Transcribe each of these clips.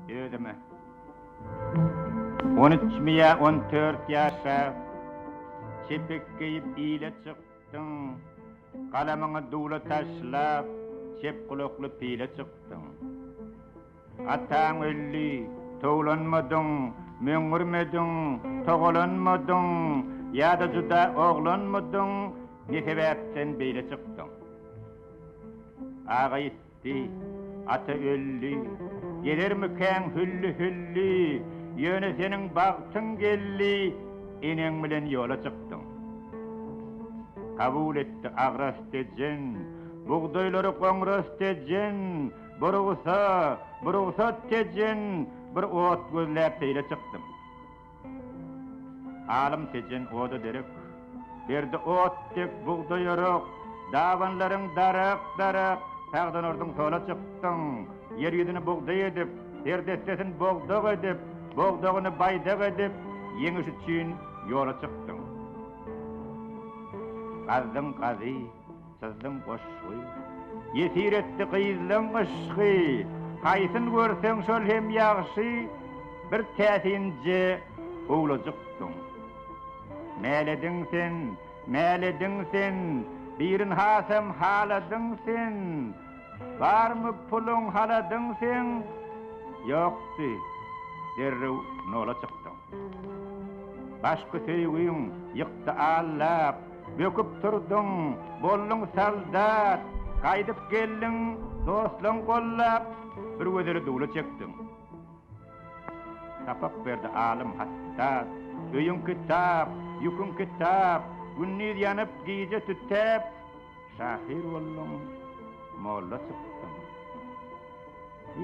Özüme. On üç miýa on dört ýaşa çepek geýip ile çykdyň. Galamyňy duwla taşlap, çep gulakly pile çykdyň. Ataň öldi, towlanmadyň, möňňürmediň, togalanmadyň, ýa-da juda oglanmydyň, ne sebäpden beýle çykdyň? Aga ýitdi. Di, ata öldi. Gelermikäň hülli-hülli, Ýöne seniň bagtyň geldi, Eneň bilen ýola çykdyň. Kabul etdi agras tejen, Bugdaýlary goňras tejen, Bu rugsa, bu rugsat tejen, Bir ot gözläp seýle çykdym. Alym Tejen oda derek, Berdi ot dek bugdaý örük, Dabanlaryň daryk, daryk, Tagdan urduň sola çykdyň. Ýer ýüzüni bugdaý edip, Her dessesin bogdag edip, Bogdagyny baýdak edip, Ýeňiş üçin ýola çykdyň. Gazdyň gazy. Gyzlyň goşgy. Ýesir etdi gyzlyň yşky, Haýsyn görseň şol hem ýagşy, Bir täsinje howlujykdyň. Mälediň sen, mälediň sen, Birin hasam haladyň sen, Barmy puluň haladyň sen, Ýokdy, derrew nola çykdyň. Başky söýgüň ýykdy allap, Böküp turduň, bolduň soldat. Gaýdyp geldiň, dostlaň gollap. Bir gözeli duwla çekdiň. Sapak berdi alym hattat. Öýüň kitap, ýüküň kitap. Gündiz ýanyp, gije tütäp. Şahyr bolduň, molla çykdyň.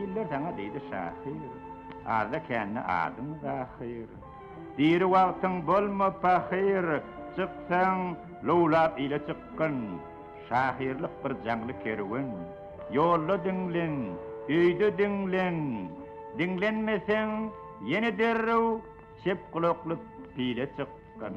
Iller saňa diýdi şahyr. Azda-kände adyň Zahyr. Diri wagtyň bolma pahyr, Çyksaň, lowlap ile çykgyn. Şahyrlyk bir jaňly kerwen. Ýolda diňlen, öýde diňlen. Diňlenmeseň, ýene derrew Çep gulakly pile çykgyn.